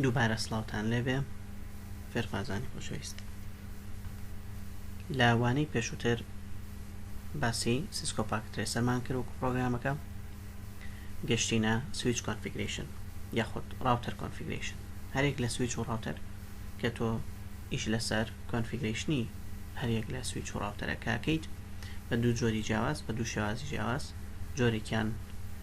دووبارە سڵاوتان لێبێ فێرخوازانی خۆشەویست لە وانەی پێشووتر باسی سیسکۆ پاک ترێسەرمان کرد وەکو پرۆگرامەکە گەشتینە سویچ کۆنفیگریشن یاخود ڕاوتەر کۆنفیگریشن هەرێک لە سویچ و ڕاوتەر کە تۆ ئیش لەسەر کۆنفیگریشنی هەرێک لە سویچ و ڕاوتەرەکەکەیت بە دوو جۆری جیاواز بە دوو شێوازی جیاواز جۆرێکیان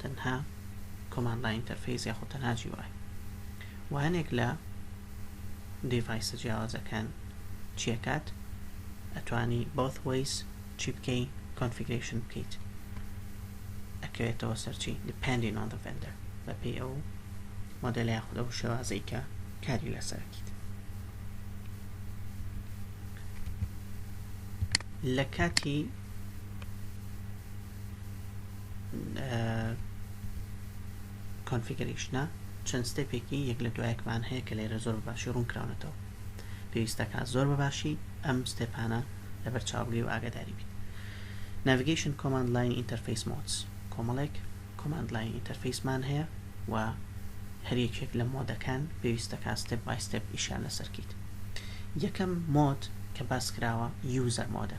تەنها کۆماند لاین ئینتەرفەیس یاخۆ تەنها جی وای وانێک لە دیڤایسە جیاوازەکان چیەکات ئەتوانی بۆث وەیس چی بکەی کۆنفیگرشن بکەیت ئەکەوێتەوە سەرچی depending on the vendor بە پێی ئەو مۆدل یاخود ئەو شێوازەی کە کاری لەسەرکیت لە کاتی کۆنفیگەریشنە چەند ستێپێکی یەک لە دوایەکمان هەیە کە لێرە زۆر باشی ڕوون کراونەتەوە پێویستەکە زۆر بەباشی ئەم ستێپانە لە بەرچاوگری و ئاگداری بیت ناڤگەیشن کۆماند لاین ئینتەرفیس مۆتس کۆمەڵێک کۆماند لاین ئینتەرفیسمان هەیە و هەریەکێک لە مۆدەکان پێویستەکە ستێپ بای ستێپ ئیشان لەسەرکیت یەکەم مۆد کە باس کراوە یوزەر مۆدە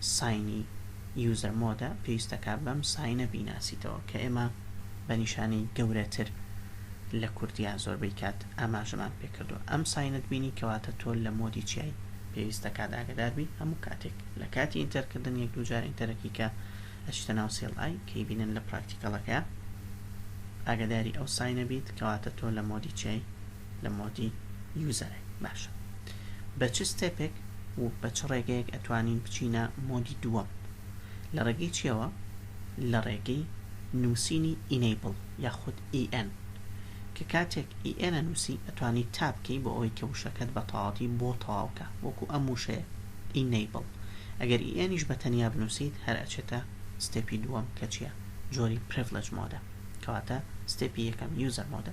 ساینی یوزەر مۆدە پێویستەکە بەم ساینە بیناسیتەوە کە ئێمە بە نیشانەی گەورەتر لە کوردیا زۆربەی کات ئاماژەمان پێکردو ئەم ساینت بینی کەواتە تۆ لە مۆدی چیای پێویستەکە داگەداربی هەموو کاتێک لە کاتی ئینتەرکردن یەک دوو جار ئینتەرەکی کە ئەچتە ناو سێڵ ئای کەی بینن لە پراکتیکەڵەکە ئاگداری ئەو ساینە بیت کەواتە تۆ لە مۆدی چیای لە مۆدی یوزەرێک باشە بە چ ستێپێک و بە چ ڕێگەیەک ئەتوانین بچینە مۆدی دووەم لە ڕێگەی چیەوە لە ڕێگەی نووسینی ئینەیبڵ یاخود EN کە کاتێک EN نووسی ئەتوانی تاپکەی بۆ ئەوەی کە وشەکەت بە تەواتی بۆ تەواوکە وەکو ئەم وشەیە ئینەیبڵ ئەگەر ئیئنیش بە تەنیا بنووسیت هەر ئەچێتە ستێپی دووەم کە چیە جۆری پرڤلج مۆدە کەواتە ستێپی یەکەم یوزەر مۆدە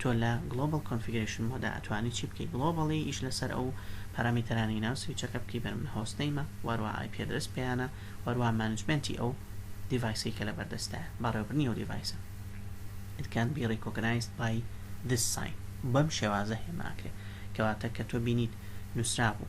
تۆ لە Global Configuration مۆدا ئەتوانی چی بکەی گلۆباڵی ئیش لەسەر ئەو پەرامیتەرانی ناو سویچەکە بکەی بەر من هۆست نیمە واروا ئای پێ درست پێیانە واروا مانجمنتی ئەو دیڤایسی کە لە بەردەستە بەڕێوبرنی و دیڤایسە It can be recognized by this sign بەم شێوازە هێماکرێ کەواتە کە تۆ بینیت نووسرابوو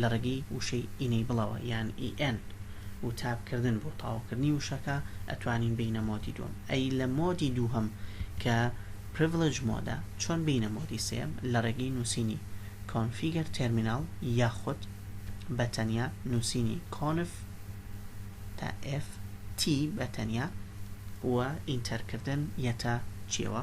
لە ڕێگەی وشەی Enableەوە یان EN و تاپ کردن بۆ تاوکردنی وشەکە ئەتوانین بێینە مۆدی دووەم ئەی لە مۆدی دووهەم کە Privilege Mode ە چۆن بێینە مۆدی سێیەم لە ڕێگەی نووسینی Configure Terminal یاخود بە تەنیا نووسینی Conf تا F T بە تەنیا و ئینتەر کردن یەتە چیەوە.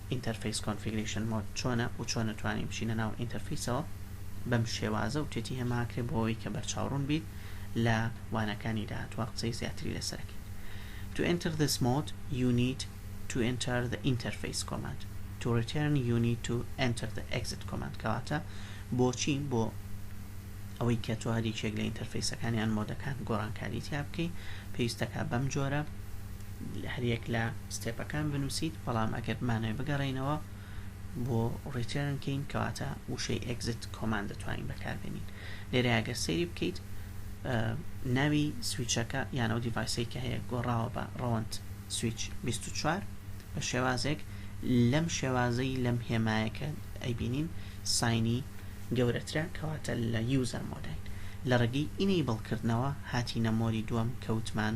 ئینتەرفەیس کۆنفیگرەیشن مۆد چۆنە و چۆن ئەتوانین بچینە ناو ئینتەرفەیسەوە بەم شێوازە و تێتی هەماکرێ بۆ ئەوەی کە بەرچاوڕوون بیت لە وانەکانی داهاتوە قسەی زیاتری لەسەرەکەین To enter this mode you need to enter the interface command To return you need to enter the exit command کەواتە بۆچی بۆ ئەوەی کە تۆ هەریکێک لە ئینتەرفەیسەکانیان مۆدەکان گۆڕانکاری تیا بکەی پێویستەکە بەم جۆرە هەریەک لە ستێپەکان بنووسیت بەڵام ئەگەر بمانەوەی بگەڕینەوە بۆ ڕیتێرن کەین کەواتە وشەی ئەگزت کۆمان دەتوانین بەکاربێنین لێرە ئەگەر سەیری بکەیت ناوی سویچەکە یان ئەو دیڤایسی کە هەیە گۆڕاوە بە ڕەوەند سویچ 24 بە شێوازێک لەم شێوازەی لەم هێمایەکە ئەیبینین ساینی گەورەترە کەواتە لە یوزەر مۆدای لە ڕگەی ئینەی بڵکردنەوە هاتی نەمۆری دووەم کەوتمان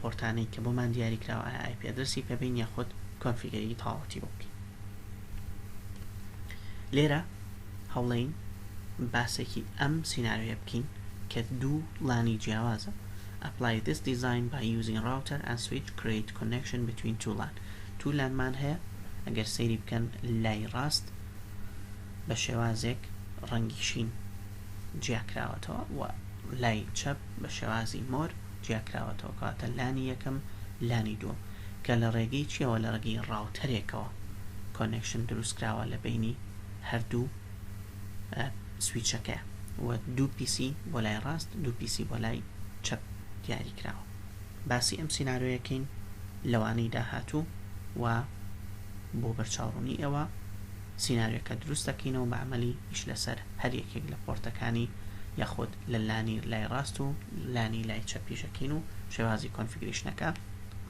پۆرتانەی کە بۆمان دیاری کراوە ئایا ئای پی ئەدرەسی پێ بین یاخود کۆنفیگەری تەواوەتی بۆ بکەین لێرە هەوڵین باسێکی ئەم سینناوێ بکەین کە دوو لانی جیاوازە apply this design by using router and switch create connection between two LAN two LAN مان هەیە ئەگەر سەیری بکەن لای ڕاست بە شێوازێک ڕەنگی شین جیاکراوەتەوە و لای چەپ بە شێوازی مۆر جیاکراوەتەوە کەواتە لانی یەکەم لانی دووەم کە لە ڕێگەی چیەوە لە ڕگەی ڕاوتەرێکەوە کۆنێکشن دروستکراوە لە بینی هەردوو سویچەکە و دوو پیسی بۆ لای ڕاست دوو پیسی بۆ لای چەپ دیاری کراوە باسی ئەم سینناارۆیەکەین لەوانەی داهاتوو و بۆ بەرچاوڕوونی ئەوە سیناریۆکە دروست دەکەینەوە بە عەمەلی ئیش لەسەر هەر یەکێک لە پۆرتەکانی یاخود لە لانی لای ڕاست و لانی لای چەپ ئیشەکەین و شێوازی کۆنفیگریشنەکە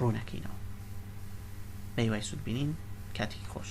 ڕوونەکەینەوە بەیوای سود بینین کاتێکی خۆش